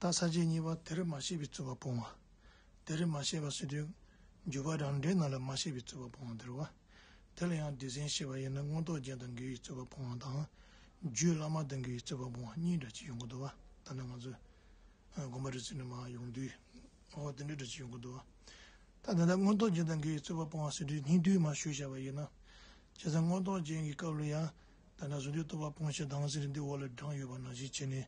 རྟགས་ས་བཅད་གཉིས་པ་དེར་མ་ཤེས་པའི་རྩོད་པ་སྤོང་བ། དེར་མ་ཤེས་པ་སྲིད་དོན་འཇུག་པ་རང་འགྲེལ་རྣམས་ལ་མ་ཤེས་པའི་རྩོད་པ་སྤོང་བ་འདིར་བ། དེ་ལ་ཡང་འདི་ཟན་ཤེས་པ་ཡིན་ན་མངོན་རྟོགས་རྒྱན་དང་འགལ་བའི་རྩོད་པ་སྤོང་བ་དང། རྒྱུད་བླ་མ་དང་འགལ་བའི་རྩོད་པ་སྤོང་བ་གཉིས་འདྲ་ཅི་ཡོང་གི་འདུག་བ། ད་ནི་ང་ཚོས་དགོན་པ་རི་རྩེ་ནས་མ་ཡོང་དུས་འོ་དེ་འདྲ་འདྲ་ཅི་ཡོང་གི་འདུག་བ། ད་དེ་ལྟར་མངོན་རྟོགས་རྒྱན་དང་འགལ་བའི་རྩོད་པ་སྤོང་བ་སྲིད་དོན་སྙིང་བསྡུས་མ་ཞུ་བྱ་བ་ཡིན་ན། བྱས་ཙང་མངོན་རྟོགས་རྒྱན་གྱི་སྐབས་ལ་ཡང་དེ་འདྲ་ཟུང་དུས་རྟོགས་པ་སྤོང་བྱེད་དྭངས་གསལ་འདི་འོག་ལ་བགྲངས་ཡོད་པ་ནང་བཞིན་བྱས་ནས་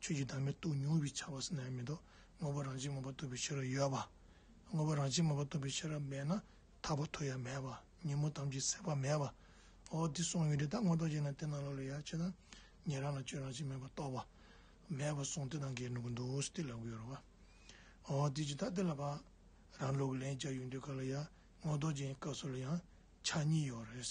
ཆོས་ཀྱི་བདག་མེད་དུ་མྱོང་བའི་ཆ་བ་སེར་སྣའི་མེ་ཏོག་དངོས་པོ་རང་བྱིན་མངོན་པར་བསྟོད་པའི་ཕྱིར་ཡོད་པ། དངོས་པོ་རང་བྱིན་མངོན་པར་བསྟོད་པའི་ཕྱིར་མེད་ན་ཐར་པ་ཐོབ་ཡ་མེད་པ་ཉིན་མོ་དམ་གྱི་སྲེད་པ་མེད་པ། འོ་དེ་གསུངས་ཡོད་དེ་ད་དངོས་རྟོགས་བྱས་ན་དེ་རྣམས་ལ་ལོས་ཡག་ཅེ་ན། ཉན་རང་ལ་ཆོས་རང་བྱིན་མེད་པར་རྟོགས་པ། མེད་པར་གསུངས་དེ་དང་འགལ་འགྲོ་གི་འདུག་ཟེར་ཏེ་ལབ་གི་ཡོད་རེད་བ། འོ་དེ་ཇི་ལྟར་དེ་ལ་བ། རང་ལུགས་ལན་བརྒྱ་ཡོད་འདོད་ག་ལ་ཡ་དངོས་རྟོགས་བྱེད་སྐབས་སུ་ལ་ཡང་ཆ་གཉིས་ཡོད་རེད།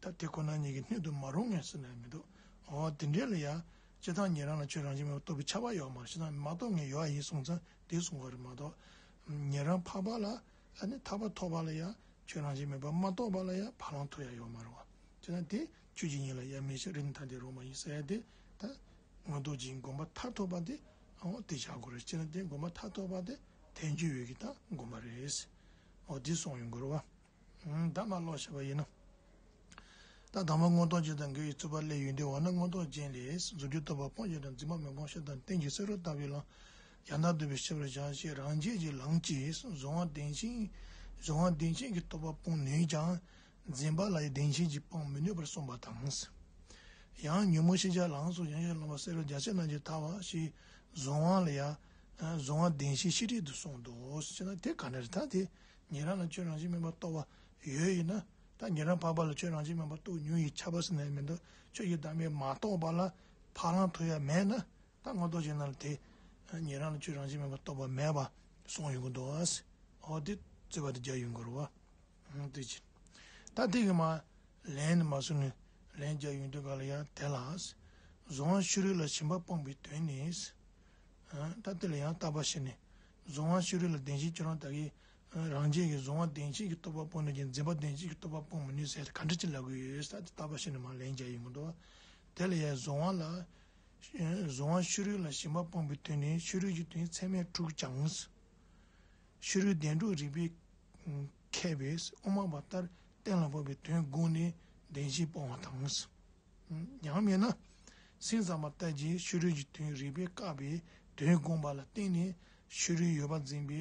ད་དེ་ཁོ་ན་ཉིད་ཀྱི་སྣོད་དུ་མ་རུང་ངེས་ཟེར་ནའང་མི་འདུག་འོ་དེ་འདྲའི་ལ་ཡ། སྤྱི་དང་ཉན་རང་ལ་ཆོས་རང་བཞིན་མེད་པར་རྟོགས་པའི་ཆ་བ་ཡོད་མ་རེད་ཞེ་ན་མ་རྟོགས་ངེས་ཡོད་ཨ་ཡིན་གསུངས་ཙང་དེ་གསུང་བ་རེད་མ་གཏོགས། ཉན་རང་འཕགས་པ་ལ་ཡ་ནི་ཐར་པ་ཐོབ་པ་ལ་ཡ་ཆོས་རང་བཞིན་མེད་པར་མ་རྟོགས་པ་ལ་ཡ་བ་ལང་ཐོབ་ཡ་ཡོད་མ་རེད་བ། ཅེ་ན་དེ་ཁྱོད་ཀྱིས་ཉིད་ལ་ཡ་མི་བྱེད་རིམ་ཐ་དད་རུང་མ་ཡིན་ཟེར་ཡ་དེ་ད། མངོན་རྟོགས་ཀྱིས་བསྒོམ་པ་མཐར་ཐོབ་པ་དེ་འོ་དེ་བྱ་དགོས་རེད་ཅེ་ན་དེ་བསྒོམ་པ་མཐར་ཐོབ་པ་དེ་ཐལ་འགྱུར་ཡོད་ཀྱི་ད་བསྒོམ་པ་རེད། འོ་དེ་གསུང་ཡོད་དགོས་རེད་བ། བདག་མ་ཀློག་བྱ་བ་ཡིན་ནོ། ད་དང་པོ་མངོན་རྟོགས་རྗེས་དང་འགལ་བའི་རྩོད་པ་སླད་ཡུལ་འདས་བ་ན་མངོན་རྟོགས་ཅན་ལས་གཟུགས་ཀྱི་རྟོག་པ་སྤོང་བྱེད་དང་འཛིན་པ་མི་སྤོང་ཤ་དང་སྟན་གྱི་སེ་རུ་བཏགས་པའི་ལང། ཡང་དག་འདོད་པའི་ཤེས་པར་བྱ་ཞེས་རང་རྒྱལ་གྱི་ལང་གིས་གཟུང་བ་བདེན་ཅིང་གཟུང་བ་བདེན་ཅན་གྱི་རྟོག་པ་སྤོང་ནུས་ཀྱང། འཛིན་པ་ལ་ཡི་བདེན་ཅན་གྱིས་སྤང་མི་ནུས་པར་གསུངས་པ་དང། ཡང་ཉོན་མོངས་ཤེས་བྱ་ལང་སོགས་ཡང་ཤ་ལོང་བ་སེ་རུ་རྒྱ་ཆེར་རྣམས་ཀྱིས་དག་བ་ཞེས་གཟུང་བ་ལ་ཡང། གཟུང་བ་བདེན་ཞེས་ཤེས་བྲལ་དུ་གསུངས་ཏོ། ཅི་ན་དེ་ག་ནི་རི་དྭགས་དེ། ཉན་རང་ལ་ཁྱོད་རང་བཞིན་མིན་པར་རྟོག་པ་ཡོད་ཡིན་ན། ད་ཉན་རང་འཕགས་པ་ལ་ཁྱོད་རང་བཞིན་མིན་པར་རྟོག་ཉུང་ཡིན་ཆ་བ་སེ་ན་ཡང་མི་འདུག་ཁྱོད་ཀྱིས་བདག་མེད་མ་རྟོགས་པ་ལ་འཕགས་ལམ་དུ་ཡང་མེད་ན། ད་སྔོན་རྟོག་བྱེད་རྣམས་ལ་དེ། ཉན་རང་ལ་ཁྱོད་རང་བཞིན་མིན་པར་རྟོག་པ་མེད་པ་གསུངས་ཡོད་དགོས་འདུག་ཨོ་དེ་རྩོད་པ་དེ་རྒྱག་ཡོད་འགོར་བ། དེ་ཅི། ད་ཐེངས་ཀྱི་མ། ལན་ནི་མ་གསུངས་ནས་ལན་རྒྱག་ཡོང་དུས་ག་ལ་ཡང་དེ་ལ། གཟུང་བ་ཤུ་རིག་ལ་ཞེན་པ་སྤངས་པའི་དོན་ནི། ད་དེ་ལ་ཡང་བརྟག་པ་བྱས་ནས་གཟུང་བ་ཕྱི་རོལ་ལ་བདེན་བཞིའི་ཁྱོད་རང་དག་གིས། རང་རྒྱལ་གྱི་གཟུང་བ་བདེན་བཞིན་གྱི་རྟོག་པ་སྤོང་ནུས་ཀྱང་འཛིན་པ་བདེན་བཞིན་གྱི་རྟོག་པ་སྤོང་མི་ནུས་ཟེར་ཏེ་ག་འདྲ་ཅི་ལ་དགོས་ཡོད་ས་དེ་ལྟ་བ་ཤེས་ནུས་མ་ལན་བརྒྱ་ཡིན་མི་འགྲོ། དེ་ལ་ཡང་གཟུང་བ་ལ། གཟུང་བ་ཕྱི་རོལ་ལ་ཞེན་པ་སྤོང་པའི་དོན་ནི་ཕྱི་རོལ་གྱི་དོན་ཚད་མས་དཀྲུགས་ཀྱང། ཕྱི་རོལ་བདེན་དཀྲུགས་རིགས་པས་མཁས་པས་དབུ་མ་པ་ལྟར་གཏན་ལ་དབབ་པའི་དོན་དགུ་ནི་བདེན་བཞི་སྤོང་བ་དང། ཉམས་མེད་ན། སེམས་གཙང་མ་ལྟ་ཅི་ཕྱི་རོལ་གྱི་དོན་རིག་པས་བཀག་པའི་དོན་དགོངས་པ་ལ་བརྟེན་ནས་ཕྱི་རོལ་ཡོད་པ་འཛིན་པའི་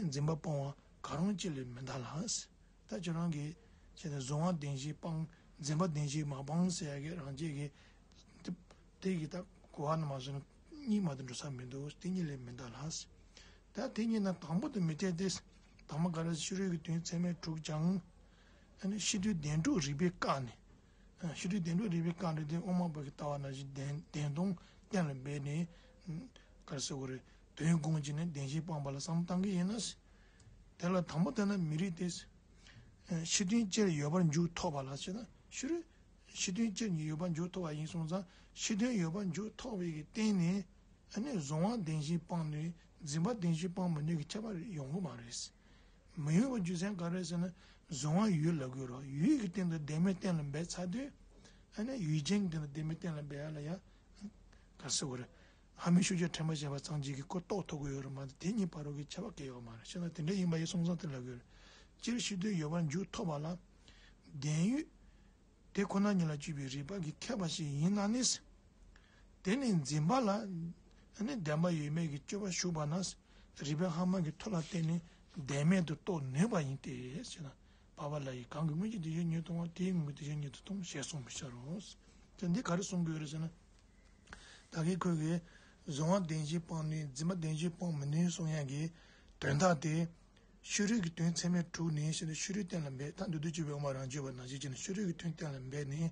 འཛིན་པ་སྤང་བ་གང་རུང་གཅིག་ལས་མི་འདའ་ལ། ད་ཁྱོད་རང་གིས་བྱས་ནས་གཟུང་བ་བདེན་བཞི་སྤང་འཛིན་པ་བདེན་བཞི་མ་སྤང་ཟེར་ཡ་གི་རང་ཆས་གི། དེ་གི་ད་གོ་བ་ན་མ་བཟོད་ན་གཉིས་མ་དུ་འགྲོ་ས་མི་འདུག་དེ་གཉིས་ལས་མི་འདའ་ལ། ད་དེ་གཉིས་ན་དང་པོ་དུ་མི་འཐད་དེ། དྭངས་མ་འགགས་རེས་ཕྱི་རོལ་གྱི་དོན་ཚད་མས་དྲུག་ཀྱང། ཕྱི་དོན་བདེན་དྲུག་རིག་པས་བཀག་ནས། ཤི་ཁྲིའི་གདན་དྲུག་རིག་པའི་རྐང་གྲགས་ལྡན་ཨོ་མ་བོད་ཀྱི་ལྟ་བ་ན་བཞི་ལྡན་བདེན་སྟོང་གཏན་ལ་འབེབས་ནས། གར་སེ་གོ་རེ། དོན་དགོངས་གཅིག་ནས་བདེན་བཞིའི་སྤངས་པ་ལ་བསམ་བཏང་གི་ཡིན། དེ་ལ་དང་པོ་བསྟན་ན་མི་རིགས་ཏེ། ཕྱི་དོན་སྤྱིར་ཡོད་པར་མཇུག་ཐོགས་པ་ལ་བྱེད་ན་ཤི་རུ། ཕྱི་དོན་སྤྱིར་མྱི་ཡོད་པར་མཇུག་ཐོགས་པ་ཡིན་གསུངས་ཙང་ཕྱི་དོན་ཡོད་པར་མཇུག་ཐོགས་པའི་སྟེང་ནས། གཟུང་བ་བདེན་བཞིའི་སྤངས་ནུས་འཛིན་པ་བདེན་བཞིའི་སྤངས་མི་ནུས་ཀྱི་ཁྱད་པར་ཡོང་གི་མ་རེད། མ་ཡུལ་བ་རྒྱུ་མཚན་ག་རེད་ཟེར་ན་གཟུང་བ་ཡུལ་ལ་གུས་རོགས་ཡུལ་གྱི་སྟེང་དུ་བདེན་མེད་གཏན་ལ་འབེབས་ཚར་དུས་ཨ་ནི་ཡུལ་ཅན་གྱི་སྟེང་དུ་བདེན་མེད་གཏན་ལ་འབེབས་ཡ་ལ་ཡ། ག་སྲིད་བོ་རེད། ཧ་མི་ཤུགས་ཆེ་ཕྲན་བ་བྱས་པ་ཚང་གཅིག་གིས་གོ་རྟོགས་ཐོབ་གི་ཡོད་རེད་མ་དེ་གཉིས་བར་རོ་གི་ཁྱད་པ་གས་ཡོད་མ་རེད་ཤེས་ན་དེ་འདྲ་ཡིན་པ་ཡི་སོང་ཙང་དེ་ལ་གུས་རེད། སྤྱིར་ཤེས་དོན་ཡོད་པར་མཇུག་ཐོགས་པ་ལ་བདེན་ཡུལ། དེ་ཁོ་ན་ཉིད་ལ་སྤྱོད་པའི་རིགས་པ་ཀྱི་ཁྱད་པ་ཞིག་ཡིན་ན་ནི། དེ་ནི་འཛིན་པ་ལ་ནི་བདེན་པ་ཡོད་མེད་ཀྱི་དཔྱོད་པ་ཞུགས་པ་ན་རིགས་པའི་ལྷག་མ་གྱི་མཐོ་ལ་བརྟེན་ནས་བདེན་མེད་དུ་རྟོགས་ནུས་པ་ཡིན་ཏེ་ཞེ་ན། བ་བ་ལ་ཡིས་གང་གི་སྔོན་གྱི་དེ་ཡོད་ཉིད་ལྟུང་བ་དེའི་དངོས་ཀྱི་དེ་ཡོད་ཉིད་དུ་ལྟུང་ཞེས་གསུངས་པའི་ཕྱིར་རོ། དེ་འདིས་ག་རེ་གསུངས་དགོས་རེ་ཟེར་ན། ད་གིན་ཁོད་ཀྱིས་གཟུང་བ་བདེན་ཞེས་སྤངས་ནུས་འཛིན་པ་བདེན་ཞེས་སྤངས་མི་ནུས་གསུངས་ཡན་གྱི་དོན་དག་དེ་ཤུལ་རོལ་གྱི་དོན་ཚད་མས་དྲུག་ནི་ཤེས་ནས་ཤུལ་རོལ་གཏན་ལ་འབེབས་ཐ་འདོད་དུ་གྱུར་པའི་དབང་བ་རང་གཅོད་པ་ན་གཞི་བྱས་ནས་ཤུལ་རོལ་གྱི་དོན་གཏན་ལ་འབེབས་ནི།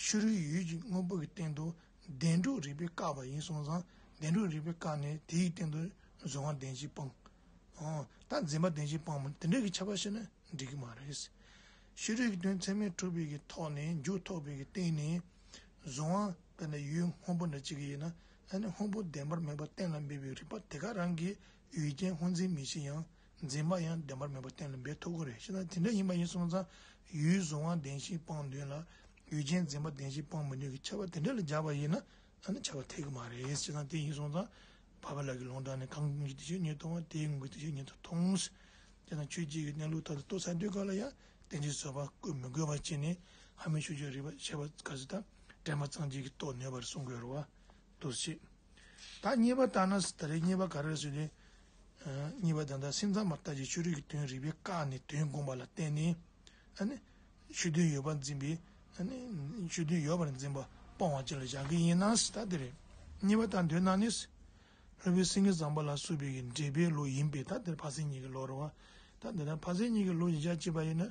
ཤུལ་རོལ་ཡུལ་གྱི་དངོས་པོ་གྱི་སྟེང་དུ་བདེན་གྲུབ་རིག་པས་བཀག་པ་ཡིན་གསུངས་ཙང་བདེན་གྲུབ་རིག་པས་བཀག་ནས་དེའི་སྟེང་དུ་གཟུང་བ་བདེན་བཞིའི་དཔང། ད་འཛིན་པ་བདེན་བཞིའི་དཔང་མོ་དེ་འདྲ་གི་ཁྱབ་པ་བཤད་ན་འགྲིག་གི་མ་རེད། ཤུལ་རོལ་གྱི་དོན་ཚད་མས་གྲུབ་པའི་གྱི་ཐོག་ནས་མཇུག་ཐོགས་པའི་གྱི་སྟེང་ནས་གཟུང་བ་དཔེར་ན་ཡུལ་དངོས་པོ་འདྲ་གཅིག་གི་ཡིན་ན་ད་ནི་དངོས་པོ་བདེན་པར་མེད་པ་གཏན་ལ་འབེབས་པའི་རིག་པ་དེ་ག་རང་གིས་ཡུལ་རྐྱེན་ཧོན་འཛིན་མི་བྱེད་ཡང་འཛིན་པ་ཡང་བདེན་པར་མེད་པ་གཏན་ལ་འབེབས་ཐུབ་དགོས་རེད་ཤེ་ན་དེ་འདྲ་ཡིན་པ་ཡིན་སོང་ཙང་ཡུལ་བཟུང་བ་བདེན་ཞིང་སྤང་འདུན་ལ་ཡུལ་རྐྱེན་འཛིན་པ་བདེན་ཞིང་སྤང་མི་འདུན་གྱི་ཆ་བ་དེ་འདྲ་ལ་འཇགས་པ་ཡིན་ན་ད་ནི་བྱ་བ་འཐད་གི་མ་རེད་ཤེ་ན་དེ་ཡིན་སོང་ཙང་བ་བ་ལགས་ཀྱི་ལུང་དྲངས་ནས་གང་གི་དེ་བྱས་ཉེས་མཐོང་བ་དེའི་ངོས་ཀྱི་དེ་བྱས་ཉེས་དོ་ཐོང་ཤེ་ན་ཆོས་བརྒྱད་ཀྱི་གནས་ལུགས་ལྟར་དུ་ལྟོས་ཚ་འདོད་ག་ལ་ཡང་བདེན་ཅིང་བཟོད་པ་བཀོད་མི་དགོས་པ་བྱས་ནས་ཧ་མི་ཤུ་ཅོ་རིག་པ་བཤད་པ་ག་ཟེ་ད་དྲན་པ་ཙང་བརྗེད་ཀྱི་ལྟོ་ནོད་པར་གསུང་དགོས་རོ་བ་དུར་བྱེད། བདག་གཉིས་པ་བཏགས་ན་ད་རེས་གཉིས་པ་ག་རེ་ཟོས་ནས། གཉིས་པ་ད་ལྟ་སེམས་ཚང་མར་ལྟ་ཅི་ཆོས་རིག་གི་དོན་རིག་པས་བཀག་ནས་དོན་དགོངས་པ་ལ་བརྟེན་ནས། ཆོས་དོན་ཡོད་པར་འཛིན་པས། ཆོས་དོན་ཡོད་པར་འཛིན་པ་སྤོང་བ་བཅས་ལ་བཞག་གི་ཡིན་ན་ད་དེ་རེད། གཉིས་པ་ད་འདོད་ན་ནི། ལྷོད་པོའི་སེང་གེ་བཟང་པོ་ལ་བསུ་བའི་གི་འབྲེལ་པའི་ལོ་ཡིན་པས་ད་དེར་ཕ་སེང་གཉིས་ཀྱི་ལོ་རེད་བ། ད་འདོད་ན་ཕ་སེང་གཉིས་ཀྱི་ལོ་བཞི་ཆ་གཅིག་པ་ཡིན་ན་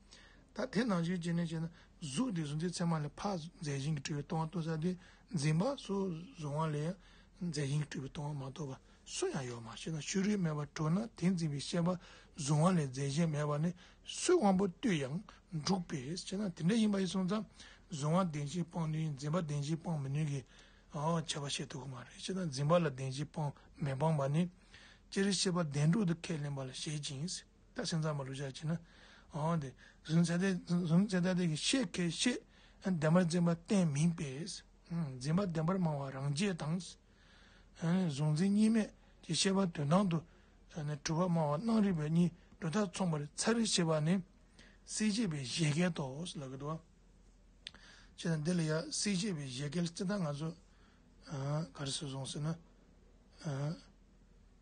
ད་དེ་ནང་བཞིན་བྱས་ནས་བྱས་ན་གཟུགས་དེ་གཟུགས་མཛེས་ཚད་མ་ལས་འཕགས་མཛད་གཞན་གྱི་སྤྲུལ་བའི་སྟོང་བ་སྟོན་ས་དེ་འཛིན་པ་སོགས་གཟུང་བ་ལས་མཛད་གཞན་གྱི་སྤྲུལ་པའི་སྟོང་བ་མ་གཏོགས་པ་སུ་ཡང་ཡོད་མ་ཤེས་ན་ཤུ་རུའི་མེ་བ་དྲོ་ན་དེ་འཛིན་པའི་ཤེས་པ་གཟུང་བ་ལས་མཛད་གཞན་མེད་པ་ནི་སུའི་དབང་པོ་ལྟོས་ཡང་འགྲུག་པས་ཅེ་ན་དེ་འདྲ་ཡིན་པ་ཡི་གཟུང་ཙམ་གཟུང་བ་བདེན་བཞིན་སྤང་ནུས་འཛིན་པ་བདེན་བཞིན་སྤང་མི་ནུས་ཀྱི་བྱ་བ་བྱེད་ཐུབ་ཀྱི་མ་རེད་ཅེ་ན་འཛིན་པ་ལ་བདེན་བཞིན་སྤང་མི་སྤང་བ་ནི་སྤྱིར་ཤེས་པ་བདེན་གྲུབ་ཏུ་ཁས་ལེན་པ་ལ་བཞེད་ཅིང། ད་སེམས་ཙམ་མ་ལུས་བྱ་བྱེད་ན། འོང་སྟེ། གཟུང་ཚད་ལྟ་གཟུང་ཚད་ལྟ་དེ་གི་ཤེས་གལ་ཆེ། བདེན་པར་འཛིན་པ་གཏན་མིན་པས། འཛིན་པ་བདེན་པར་སྨྲ་བ་རང་རྒྱས་དང། གཟུང་འཛིན་གཉིས་མེད་ཀྱི་ཤེས་པ་དོན་དང་དུ། གྲུབ་པར་སྨྲ་བ་སྣང་རིག་པའི་གཉིས་སྒྲོ་ཐག་མཚུངས་པར་ཚ་རེ་ཤེས་པ་ནི། སྲིད་ཅེས་པའི་བཞད་གད་དོ། ལ་གི་དོ། ཅེས་དང་འདི་ལ་ཡང་སྲིད་ཅེས་པའི་བཞད་གད་ལ་སྤྱི་ལྟར་ང་ཚོས། ག་རེ་ཟེར་སོང་ཟེར་ན།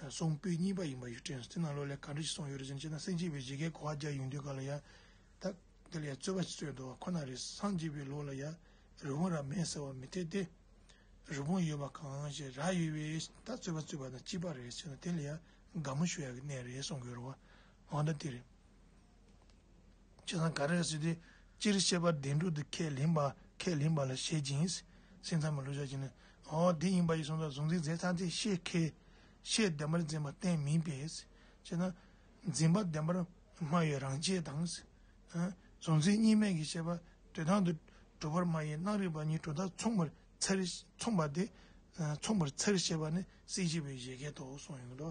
གསུང་སྤེལ་གཉིས་པ་ཡིན་པ་ཡོད་དྲན་སེམས་ནང་བློ་ལས་ག་འདྲ་ཞིག་སོང་ཡོད་རེད་ཅེ་ན་སེམས་སྐྱིད་པའི་བྱེད་སྐལ་གོ་བ་རྒྱག་ཡོང་དུས་ག་ལ་ཡང་ད་འདི་ལ་ཡང་རྩོད་པ་ཞིག་རྩོད་འགྲོ་བ་ཁོ་ན་རེད་སངས་རྒྱས་པའི་ལོ་ལ་ཡང་རི་བོང་རྭ་མེད་ཟེར་བ་མི་འཐད་དེ། རི་བོང་ཡོད་པ་གང་ཞིག་རྭ་ཡོད་པས་ད་རྩོད་པ་རྩོད་པ་དང་གཅིག་པ་རེད་ཅེ་ན་དེ་ལ་ཡང་དགའ་མོ་ཞུ་ཡག་གི་གནས་རེད་གསུང་དགོས་རུང་བ་འོ་ན་དེ་རེད། ཁྱེད་རང་ག་རེར་ཟེར་ཏེ། སྤྱིར་བཤད་པ་བདེན་གྲུབ་ཏུ་ཁས་ལེན་པ་ཁས་ལེན་པ་ལ་བཞེད་ཅིང། སེམས་ཚང་མ་ལུས་བཞག་ཅིང། འོ་དེ་ཡིན་པ་ཡིན་གསུངས་ཙང་གཟུང་འཛིན་རྫས་ཚང་ཚིག་ཤེས་མཁས། ཤེས་བདེན་པར་འཛིན་པ་བརྟེན་མིན་པས། ཅེ་ན། འཛིན་པ་བདེན་པར་སྨྲ་བའི་རང་ཆས་དང། གཟུང་འཛིན་གཉིས་མེད་ཀྱི་བཤད་པ་དེ་དང་དུ་གྲུབ་པར་སྨྲ་ཡིན་སྣང་རིག་པ་གཉིས་གྲུབ་མཐའ་མཚུངས་པར་འཚལ། མཚུངས་པ་དེ་མཚུངས་པར་འཚལ་ཞེས་པ་ནི་སྲིད་ཞི་བའི་བཞད་གད་དོ་གསུངས་ཡོད་དོ།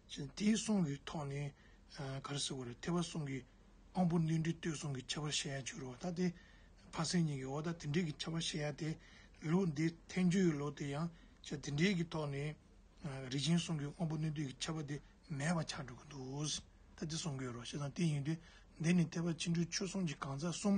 དེའི་གསུང་གི་ཐོག་ནས་ག་རེ་ཟེར་བ་རེད་ཐལ་བ་གསུང་གི་དབང་པོ་གནོད་འདྲེ་ལྟོས་གསུང་གི་ཁྱད་པར་བཤད་ཡ་བྱུ་རུ་བ་ད་དེ་ཕ་སེང་གཉིས་ཀྱི་འོག་ད་དེ་འདྲེ་གི་ཁྱད་པར་བཤད་ཡ་དེ་ལུགས་འདི་ཐལ་འགྱུར་ཡོད་ལོ་དེ་ཡང་དེ་འདྲེ་གི་ཐོག་ནས་རིགས་ཅན་གསུང་གི་དབང་པོ་གནོད་འདྲེ་གི་ཁྱད་པར་དེ་མེད་པ་ཆགས་འགྲོ་གི་འདུག་ད་དེ་གསུང་གི་ཡོད་རོ་ཞེ་སང་དེ་ཡིན་དུས་འདི་ནི་ཐལ་བ་ཕྱི་འཁྲུལ་ཆོས་གསུང་གི་གང་ཟག་གསུམ་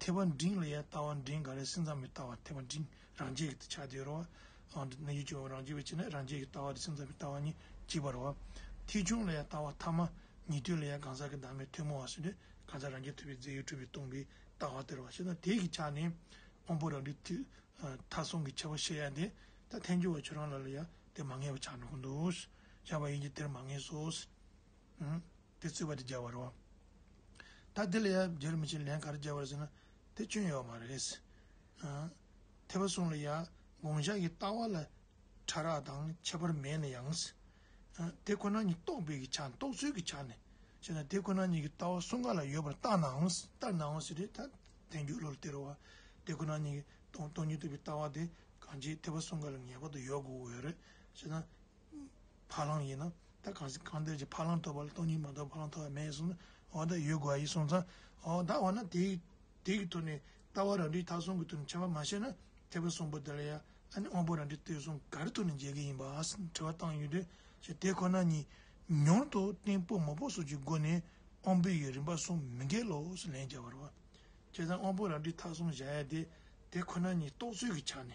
ཐེག་པ་འབྲིང་ལ་ཡང་ལྟ་བ་འབྲིང་འགའ་རེ་སེམས་ཙམ་མི་ལྟ་བར་ཐེག་པ་འབྲིང་རང་ཆས་ཀྱི་ཆ་དེ་རོ། གནས་ཡུལ་གྱི་འོག་རང་ཆས་པའི་ཕྱིར་ན་རང་ཆས་ཀྱི་ལྟ་བ་དེ་སེམས་ཙམ་མི་ལྟ་བ་ཉིད་གཅིག་པར་རོ། ཐེག་ཆུང་ལ་ཡང་ལྟ་བ་ཐ་མ་ཉིད་དོན་ལ་ཡང་གང་ཟག་གི་བདག་མེད་ཐུན་མོང་བ་སོགས་ནི་གང་ཟག་རང་རྒྱལ་ཐུབ་པའི་རྫས་ཡོད་གྲུབ་པས་སྟོང་པའི་ལྟ་བ་སྟེར་བ་ཞེ་ན་དེའི་གི་ཆ་ནི་དབང་པོ་རང་རིག་ཐིག་མཐའ་གསུམ་གྱི་ཁྱད་པར་ཤེས་ཡ་དེ་ད་ཐལ་འགྱུར་བ་ཁྱོད་རང་ལ་ལ་ཡང་དེ་མ་ངེས་པ་ཆགས་ནུས་ཀྱི་འདུག་བཞག་པ་ཡིན་གྱི་དེར་མ་ངེས་སོ། དེ་རྩོད་པ་དེ་རྒྱག་པར་རོ། ད་དེ་ལ་ཡང་རྒྱག་རུ་མི་བྱེད་ལན་ག་རེ་རྒྱག་པར་ཟེར་ན་དེ་སྐྱོན་ཡོད་མ་རེད། ཐེག་པ་གསུམ་ལ་ཡང་དགོངས་འཇགས་ཀྱི་ལྟ་བ་ལ་ཕྲ་རགས་དང་ཁྱད་པར་མེད་ན་ཡང། དེ་ཁོ་ན་ཉིད་རྟོགས་པའི་ཆ་ནས་རྟོགས་ཚུལ་གྱི་ཆ་ནས་བཤད་ན་དེ་ཁོ་ན་ཉིད་ཀྱི་ལྟ་བ་གསུམ་ག་ལ་ཡོད་པར་བརྟགས་ནའང་བརྟགས་ནའང་ཟེར་དུས་ད་དེ་འགྱུར་བློ་ལ་སྟེར་བ། དེ་ཁོ་ན་ཉིད་རྟོགས་ཉིད་ཐུབ་པའི་ལྟ་བ་དེ་གང་ཅིའི་ཐེག་པ་གསུམ་ག་ལ་ངེས་པར་དུ་ཡོད་དགོས་འོས་རེད་ཅེ་ན། ཕ་རླངས་ཡིན་ན་ད་གང་སྲིད་གང་འདོད་ཀྱི་ཕ་རླངས་ཐོབ་པ་ལ་སྟོང་ཉིད་མ་གཏོགས་ཕ་རླངས་ཐོབ་པ་མེད་གསུངས་ན་འོ་ད་ཡོད་དགོས་ཨ་ཡིན་གསུངས་ཙང་འོ་ད་འོ་ན་དེ་དེ་གི་ཐོག་ནས་ལྟ་བ་རང་འགྲིག་ཐག་གསུམ་གི་ཐོག་ནས་འཆལ་བ་མ་བྱས་ན་ཐེག་པ་གསུམ་པོ་འདི་ལ་ཡང་ཨ་ནི་དབང་པོ་རང་འགྲིག་ལྟོས་གསུམ་ག་རི་ཐོག་ནས་འཇལ་གི་ཡིན་པ་ཨཱ་དྲི་བ་བཏང་ཡོད་དུས་ཤེས་དེ་ཁོ་ན་ཉིད་མྱོང་དུ་གཏིང་དཔོག་མ་དཔོག་སོགས་ཀྱི་སྒོ་ནས་དབང་པོའི་ཡུལ་རིམ་པ་གསུམ་མི་འགལ་ལོ་ཞེས་ལན་བརྒྱ་བར་བ། བྱས་ཙང་དབང་པོ་རང་འགྲིག་ཐག་གསུམ་བཞག་ཡ་དེ་དེ་ཁོ་ན་ཉིད་རྟོགས་ཚུལ་གྱི་ཆ་ནས།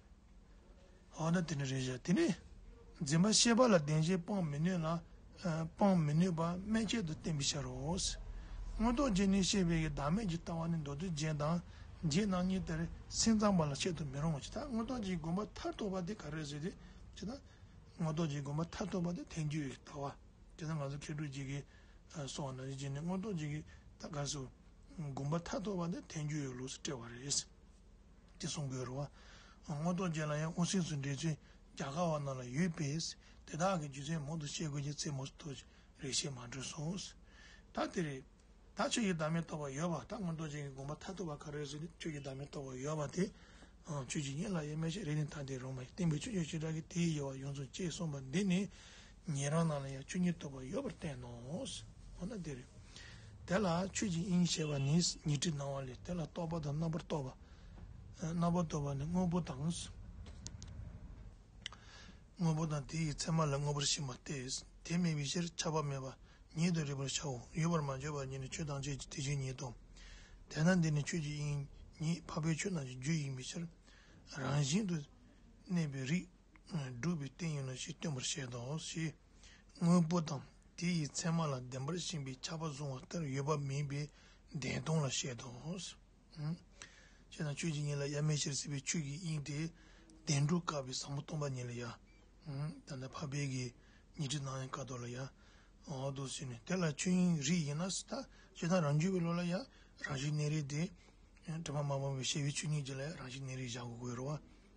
འོ་ན་དེ་ནི་རེད་བྱ། དེ་ནི་འཛིན་པ་ཤེས་པ་ལ་བདེན་ཞེས་སྤང་མི་ནུས་ལ། སྤང་མི་ནུས་པ་མན་ཆད་དུ་བསྟན་པའི་ཕྱིར་རོ། མངོན་རྟོགས་ཅན་ནི་ཤེས་པའི་བདག་མེད་ཀྱི་ལྟ་བ་ནི་མདོ་སྡེ་རྗེས་དང་རྗེས་གནང་གཉིས་དེར་སེམས་ཙམ་པ་ལ་འཆད་དུ་མི་རུང་བ་ཇི་ལྟར་མངོན་རྟོགས་ཀྱི་དགོངས་པ་མཐར་ཐུག་པ་དེ་ག་རེ་ཟེར་ཏེ་ཇི་ལྟར། མངོན་རྟོགས་ཀྱི་དགོངས་པ་མཐར་ཐུག་པ་དེ་ཐལ་འགྱུར་གྱི་ལྟ་བ། དེ་ལྟར་ང་ཚོ་མཁས་གྲུབ་རྗེ་ཀྱི་སོགས་ནང་བཞིན་གྱིས་ནི་མངོན་རྟོགས་ཀྱི་ཐད་ཀར་སོ། དགོངས་པ་མཐར་ཐུག་པ་དེ་ཐལ་འགྱུར་ཡོད་ལུགས་སུ་བཀྲལ་བ་རེད། དེ་གསུང་དགོས་རུང། དངོས་ཐོག་བརྒྱད་ལ་ཡང་དབུ་སེམས་སུ་འགྲེལ་ཚུལ་རྒྱ་གར་བ་རྣམས་ལ་ཡོད་པས་དེ་དག་གི་རྒྱུ་མཚན་མང་དུ་བཤད་དགོས་ཀྱི་རྩེད་མོ་ཏོ་རེ་བཤད་མ་འགྲོ་གསུངས། ད་དེ་རེད། ད་ཁྱོད་ཀྱི་བདག་མེད་རྟོགས་པ་ཡོད་པ་ད་དངོས་ཐོག་ཅན་གྱི་དགོངས་པ་མཐའ་ཐུག་པ་ག་རེ་ཟེར་ནས་ཁྱོད་ཀྱི་བདག་མེད་རྟོགས་པ་ཡོད་པ་དེ། ཁྱོད་ཀྱིས་ངའི་ལག་གཡས་མལ་ཆད་རེག་ནས་ད་དེ་རོ་མ་ཡིན་བསྟན་པའི་ཆོས་ཀྱི་བྱེ་བྲག་གིས་དེའི་དབྱེ་བ་ཡོངས་རྫོགས་བཅད་གསུངས་པ་འདི་ནི། ཉན་རང་རྣམས་ལ་ཡང་ཆོས་ཉིད་རྟོགས་པ་ཡོད་པར་བསྟན་ནོ། འོ་ན་འདིར་དེ་ལ་ཆོས་ཀྱི་དབྱིངས་ཞེས་པ་ནི་ཉི་ཁྲི་སྣང་བ་ལས་དེ་ལ་རྟོག་པ་དང་རྣམ་པར་རྟོག་པ། རྣམ་པར་རྟོག་པ་ནི་དངོས་པོ་དང། དངོས་པོ་དང་དེ་ཡི་མཚན་མ་ལ་དངོས་པོར་ཞེན་པ་སྟེ་དེ་མེད་པའི་ཕྱིར་ཆགས་པ་མེད་པ་ཉིད་དུ་རིག་པར་བྱའོ། ཡོད་པར་མ་བརྗོད་པ་ཉིད་ནི་ཆོས་ཐམས་ཅད་ཀྱི་དེ་བཞིན་ཉིད་དོ། དེས་ན་འདི་ནི་ཆོས་ཀྱི་དབྱིངས་ཉིད་འཕགས་པའི་ཆོས་རྣམས་ཀྱི་རྒྱུད་ཡིན་པའི་ཕྱིར་རང་བཞིན་དུ་གནས་པའི་རིགས། སྒྲུབ་པའི་རྟེན་ཡིན་ནོ་ཞེས་སྟོན་པར་བཤད་དོ་ཞེས་དངོས་པོ་དང་དེ་ཡི་མཚན་མ་ལ་བདེན་པར་ཞེན་པའི་ཆགས་པ་བཟུང་བ་ལྟར་ཡོད་པ་མིན་པའི་བདེན་སྟོང་ལ་བཤད་དོ། ཞེས་དང་ཆོས་ཀྱི་ཉིད་ལ་ཡར་མེད་ཕྱིར་སྲིད་པའི་ཆོས་ཀྱི་དབྱིངས་དེ་བདེན་གྲུབ་དཀའ་བའི་བཟང་པོ་སྟོང་པ་ཉིད་ལ་ཡར། ད་ལྟ་འཕགས་པའི་གེགས་ཉི་ཁྲི་སྣང་ཡང་དཀའ་ཐོབ་ལ་ཡར། འོག་ཏུ་ཟིན་ནས་དེ་ལ་ཆོས་དབྱིངས་རིག་ཡེ་ན་སྲིད་ཐ་ཞེས་དང་རང་རྒྱུད་པའི་བློ་ལ་ཡར་རང་བཞིན་གནས་རིག་དེ། དྲི་མ་མ་སྤངས་པའི་ཤེས་པའི་ཆོས་ཉིད་ཀྱི་ལ་ཡར་རང་བཞིན་གནས་རིག་བཞག་གོ་དགོས་རོ།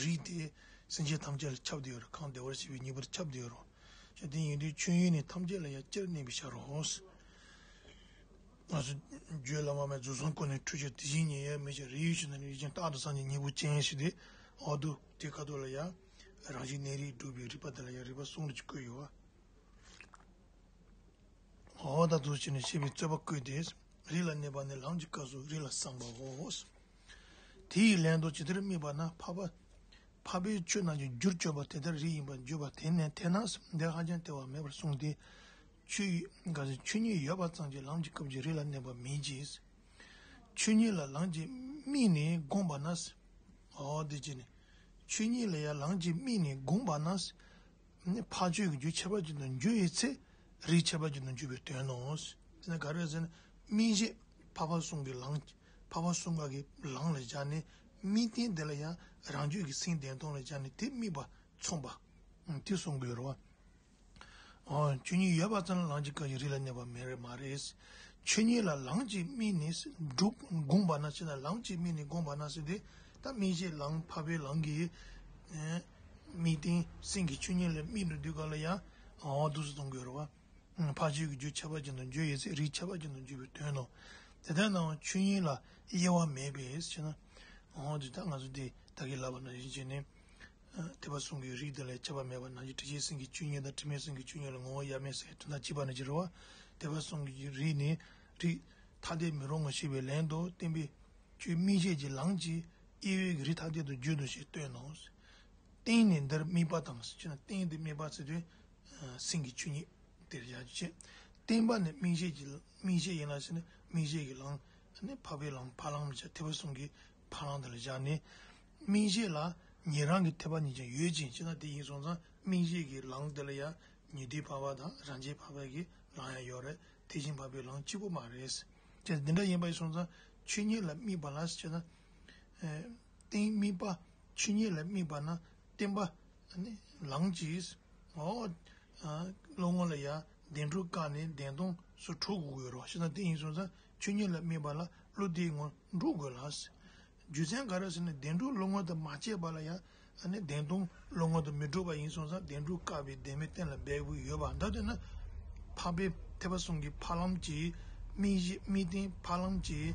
རིགས་ཏེ། སེམས་ཅན་ཐམས་ཅད་ལ་ཁྱབ་བདེ་བའི་རོ། གང་བདེ་བར་བྱེད་པའི་ཉེས་པར་ཁྱབ་བདེའི་རོ། ཞེས་དེ་ཉིད་དུ་མཆོད་ཡོན་ནི་ཐམས་ཅད་ལ་ཡང་སྤྱིར་གནས་པའི་ཕྱིར་རོ། རྗེ་བླ་མ་མའི་རྫུན་གསུམ་ཀུན་ནས་འཁྲུལ་ཕྱིར་དེ་བཞིན་ཉིད་ཡོད་མེད་ཀྱི་རིགས་ཡོད་ཕྱིར་ན་ནི་རིགས་ཅན་རྟག་ཏུ་སངས་རྒྱས་གཉིས་པོ་ཅན་ཞེས་ཏེ། འོག་ཏུ་དེ་ཁ་དོག་ལ་ཡང། རང་བཞིན་གནས་རིགས་སྒྲུབ་པའི་རིགས་པ་དེ་ལ་ཡང་རིགས་པ་གསུམ་གྱིས་བསྐོས་ཡོད། འོག་ཏུ་དུ་བྱས་ནས་བཤད་པའི་རྩོད་པ་བསྐུལ་ཏེ། རིགས་ལ་གནས་པ་ནི་ལམ་གྱི་སྐབས་སུ་རིགས་ལ་བསམས་པའོ། དེ་ཡི་ལན་དུ་ཇི་ལྟར་རྨིས་པ་ན་འཕགས་པ་འཕགས་པའི་ཆོས་རྣམས་ཀྱི་རྒྱུར་བརྗོད་པ་དེ་ལྟར་རིགས་ཡིན་པར་བརྗོད་པ་དེ་ནི་དེ་ན་སེམས་སྡེ་ཧ་ཅང་སྟེར་བ་མེད་པར་གསུངས་ཏེ། ཆོས་ཉིད་ཡོད་པ་ཙམ་གྱིས་ལམ་གྱི་སྐབས་ཀྱི་རིགས་ལ་གནས་པ་མིན་གྱི། ཆོས་ཉིད་ལ་ལམ་གྱིས་རྨིས་ནས་དགོངས་པ་ན། འདི་ཅི་ནི། ཆོས་ཉིད་ལ་ཡང་ལམ་གྱིས་རྨིས་ནས་དགོངས་པ་ན། འཕགས་ཆོས་ཀྱི་རྒྱུ་ཁྱད་པར་ཅན་དུ་འགྱུར་བའི་ཚེ་རིགས་ཁྱད་པར་ཅན་དུ་འགྱུར་བའི་དོན་ནོ། རྨིས་ཤེས་འཕགས་པ་གསུང་གི་ལམ་གྱིས་འཕགས་པ་གསུམ་ག་གི་ལང་ལ་སྦྱར་ནས་དམིགས་རྟེན་དེ་ལ་ཡང་རང་རྒྱུད་ཀྱི་སེང་ལྡེང་སྟོང་ལ་སྦྱར་ནས་དེ་དམིགས་པ་མཚུངས་པ་དེ་གསུང་དགོས་རོ། ཆོས་ཉིད་ཡོད་པ་ཙམ་ལ་ལང་གཅིག་ག་ཡི་རིགས་ལ་གནས་པ་མེད་རེད་མ་རེད། ཆོས་ཉིད་ལ་ལང་གཅིག་དམིགས་ནས་སྒྲུབ་དགོངས་པ་ན་ཕྱི་ན་ལང་གཅིག་དམིགས་ནས་དགོངས་པ་ན་སྲིད་དེ་ད་དམིགས་བྱའི་ལང་འཕགས་པའི་ལང་གིས་དམིགས་རྟེན་སེང་གི་ཆོས་ཉིད་ལ་དམིགས་འགྲོ་དུས་ག་ལ་ཡང་དུས་སུ་གཏོང་དགོས་རོ། འཕགས་ཆོས་ཀྱི་རྒྱུད་ཁྱད་པར་ཅན་དུ་བརྗོད་ཡོད་ཚད་རིགས་ཁྱད་པར་ཅན་དུ་འགྱུར་བའི་དོན་ནོ། དེ་ལྟར་སྣང་བ་ཆོས་དབྱིངས་ལ་དབྱེ་བ་མེད་པས་ཕྱེ་ན། འོ་དེ་ལྟར་ང་ཚོ་འདི་དག་གིས་ལབ་པ་ན་གཞི་བྱེས་ནི། ཐེག་པ་གསུམ་གྱི་རིགས་དེ་ལས་ཁྱད་པར་མེད་པ་ན་གཞི་དྲི་ཆེན་སེམས་ཀྱི་བཅུད་ཉིད་དང་དྲི་མེད་སེམས་ཀྱི་བཅུད་ཉིད་ལ་ངོ་བོ་དབྱེར་མེད་སའི་དོན་དག་གཅིག་པ་ནི་ཅི་རེ་བ། ཐེག་པ་གསུམ་གྱི་རིགས་ནི་རིགས་ཐ་དད་མི་རུང་ངོ་ཞེས་པའི་ལན་དུ་བསྟན་པས། ཆོས་དམིགས་བྱེད་ཀྱི་ལམ་གྱིས་དབྱེ་བས་རིགས་ཐ་དད་དུ་བརྗོད་དོ་ཞེས་སྟོན་ནོ། རྟེན་ནི་འདིར་དམིགས་པ་དང། རྟེན་འདི་དམིགས་པ་ཚིག་དོན་སེམས་ཀྱི་ཆོས་ཉིད་དེར་བཞག་ཅིག་ཅེས། བརྟན་པ་ནི་རྨིང་ཤད་ཀྱི་རྨིང་ཤད་ཡིན་ལ་ཞེ་ན་རྨིང་ཤད་ཀྱི་ལང། འཕགས་པའི་ལང་བ་ལང་མི་བྱ་ཐེག་པ་གསུམ་གྱི་བ་ལང་དེ་ལ་བཞག་ནས། རྨིང་ཤད་ལ་ཉན་རང་གི་ཐེག་པ་ཉིད་ཀྱང་ཡོད་ཅིང་ཅི་ལྟར་དེ་ཡིན་སོང་ཙང་རྨིང་ཤད་ཀྱི་ལང་དེ་ལ་ཡང་ཉེ་དུའི་བ་བ་དང་རང་ཆའི་བ་བ་ཀྱི་ལང་ཡང་ཡོད་རེད་དེ་བཞིན་བ་བའི་ལང་གཅིག་པོ་མ་རེད། ཅེས་འདི་འདྲ་ཡིན་པ་ཡིན་སོང་ཙང་ཆོས་ཉིད་ལ་དམིགས་པ་ལ་ཞེ་ན། བརྟན་རྨིས་པ་ཆོས་ཉིད་ལ་དམིགས་པ་ན་བརྟན་པ་ལངས་ཀྱིས། ཨོ། བློ་ངོར་ལ་ཡང་བདེན་གྲུབ་བཀག་ནས་བདེན་སྟོང་སུ་འཁྲུག་དགོས་རོགས་ཞེ་ན་དེ་ཡིན་སོང་ཙང་ཆོས་ཉིད་ལ་དམིགས་པ་ལ་བློ་བདེའི་ངོར་འགྲུག་དགོས་ལ། རྒྱུ་མཚན་ག་རེ་ཟེར་ན་བདེན་གྲུབ་བློ་ངོར་དུ་མ་སྐྱེས་པ་ལ་ཡང་བདེན་སྟོང་བློ་ངོར་དུ་མི་འགྲུབ་པ་ཡིན་སོང་ཙང་བདེན་གྲུབ་བཀག་པའི་བདེན་མེད་གཏན་ལ་འབེབས་དགོས་ཡོད་པ་འདི་ལྟོས་ན། འཕགས་པའི་ཐེག་པ་གསུམ་གྱི་འཕགས་ལམ་གྱི་དམིགས་གཞི་དམིགས་རྟེན་འཕགས་ལམ་གྱི།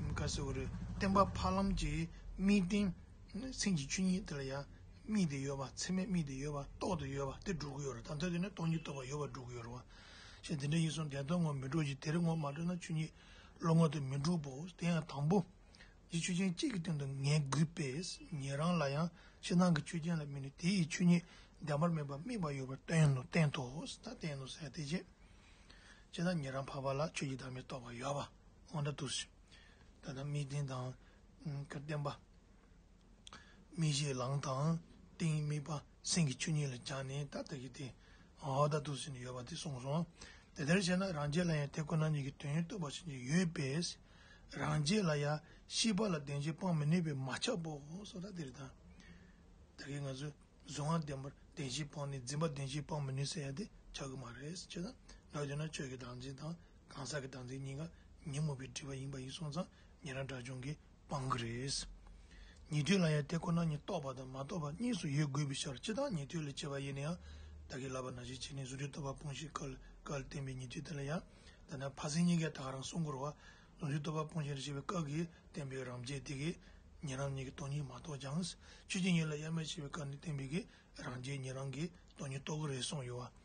བཀའ་ཟེར་བ་རེད་བསྟན་པ་འཕགས་ལམ་གྱི་དམིགས་རྟེན། སེམས་ཀྱི་ཆོས་ཉིད་དེ་ལ་ཡང་དམིགས་ཏེ་ཡོད་པ་ཚད་མས་དམིགས་ཏེ་ཡོད་པ་རྟོགས་ཏེ་ཡོད་པ་དེ་སྒྲུབ་ཀྱི་ཡོད་རེད་དམ་ཐ་དད་ནི་སྟོང་ཉིད་རྟོགས་པར་ཡོད་པ་སྒྲུབ་ཀྱི་ཡོད་རེད་བ། ཞེས་དེ་འདྲ་ཡིན་སོང་བདེན་སྟོང་ངོ་མི་སྤྲོད་ཅིག་དེ་རིགས་ངོ་མ་སྤྲོད་ན་ཆོས་ཉིད་བློ་ངོ་དེ་མི་འགྲུབ་བོ་དེ་ཡང་དང་པོ། གཞི་ཆོས་ཅན་གཅིག་གི་སྟེང་དུ་ངེས་དགོས་པས་ངེད་རང་ལ་ཡང་ཕྱི་ནང་གི་ཆོས་ཅན་ལ་དམིགས་ནས་དེ་ཡི་ཆོས་ཉིད་བདེན་པར་སྨིན་པ་དམིགས་པ་ཡོད་པར་བསྟན་ནོ་བསྟན་ཏོ། བསྟན་ནོ་ཟེར་ཡང་དེ་ཅི། ཅེ་ན་ངེད་རང་འཕགས་པ་ལ་ཆོས་ཀྱི་བདག་མེད་རྟོགས་པར་ཡོད་པ། འོ་ན་དུ་ཞིག། ད་ལྟ་མི་བདེན་དང་དགའ་བདེན་པ། མི་བཞེད་ལངས་དང་གཏིང་དམིགས་པ་སེམས་ཀྱི་ཆོས་ཉིད་ལ་སྦྱངས་ནས་ད་ལྟ་གི་དེ་འོག་ད་དུ་ཟིན་ནས་ཡོད་པ་དེ་གསུངས་སོ། དེ་ལྟར་བྱས་ན་རང་རྒྱལ་ལ་ཡང་དེ་ཁོ་ན་ཉིད་ཀྱི་དོན་ཡོད་རྟོགས་པ་བྱེད་ཀྱི་ཡོད་པས། རང་རྒྱལ་ལ་ཡང་ཤེས་པ་ལ་བདེན་བྱེད་སྤང་མི་ནུས་པས་མ་ཁྱབ་པའོ་སོ། ད་གིན་ད་གིན་ང་ཚོས་གཟུང་བ་བདེན་པར་བདེན་བྱེད་སྤངས་ནས་འཛིན་པ་བདེན་བྱེད་སྤང་མི་ནུས་ཟེར་ཡང་དེ་ཆགས་ཀྱི་མ་རེད། ཅེ་ན། ལོག་ལྟ་ན་ཆོས་ཀྱི་བདག་འཛིན་དང། གང་ཟག་གི་སྡང་ཚིག་གཉིས་ཀ་ཉིན་མོ་པའི་དྲི་བ་ཡིན་པ་ཡིན་སོང་ཙང་ཉན་རང་དགྲ་བཅོམ་གི་དཔང་གི་རེད། ཉེ་དུས་ལ་ཡང་དེ་ཁོ་ན་ཉིད་རྟོགས་པ་དང་མ་རྟོགས་པ་གཉིས་སུ་ཡོད་དགོས་པའི་ཕྱིར་ཅི་སྟག་ཉེ་དུས་ལས་བྱེད་པ་ཡེ་ནས་ཡང་དག་གི་ལབ་པ་ན་ཞིག་བྱས་ནས་གཟུགས་སྒྲིབ་རྟོགས་པ་སྤོང་ཞིག་ཀལ་ཀལ་བསྟན་པའི་ཉེ་དུས་དེ་ལ་ཡང་དག་ན་ཕ་སེང་གཉིས་ཀས་དག་རང་སྲུང་འཁོར་བ་གཟུགས་སྒྲིབ་རྟོགས་པ་སྤོང་ཞིག་རེ་ཞིག་པའི་སྐབས་ཀྱི་བསྟན་པའི་རང་རྒྱལ་དེ་གས་ཉན་རང་གཉིས་ཀྱི་སྟོང་ཉིད་མ་རྟོགས་ཀྱང་ཆོས་ཀྱི་ཉིད་ལ་དབྱེར་མེད་ཤེས་པའི་སྐབས་ནས་བསྟན་པའི་གས་རང་རྒྱལ་ཉན་རང་གི་སྟོང་ཉིད་རྟོགས་གི་རེད་སོང་ཡོད་བ།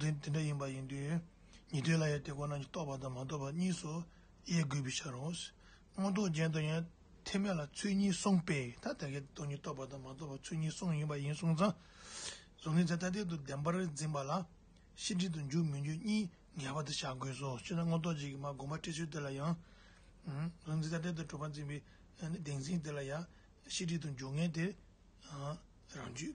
དེ་འདྲ་ཡིན་པ་ཡིན་དུས་ཉི་དོད་ལ་ཡང་དེ་ཁོ་ན་ཉིད་རྟོགས་པ་དང་མ་རྟོགས་པ་གཉིས་སུ་དབྱེ་དགོས་པའི་ཕྱིར་རོ། མངོན་རྟོགས་ཅན་དུ་ཡང་ཐེག་དམན་ལ་ཚུལ་གཉིས་གསུངས་པས་ཐ་དད་ཀྱི་དོན་ཉིད་རྟོགས་པ་དང་མ་རྟོགས་པ་ཚུལ་གཉིས་གསུངས་ཡིན་པ་ཡིན་གསུངས་ཙང། གཟུགས་ནི་ཚད་ཐ་དད་དུ་བདེན་པར་འཛིན་པ་ལ་ཤེས་འབྲས་དང་འཇུག་མི་འཇུག་གཉིས་འགལ་བ་དུ་བཞག་དགོས་སོ་ཅི་ན་མངོན་རྟོགས་ཅན་གྱི་མ་བསྒོམ་པ་འཁྲིད་ཚུལ་དེ་ལ་ཡང། གཟུགས་ནི་ཚད་ཐ་དད་དུ་གྲུབ་པར་འཛིན་པའི་བདེན་འཛིན་དེ་ལ་ཡང་ཤེས་འབྲས་དང་འཇུག་ངེས་དེ་རང་རྒྱུད།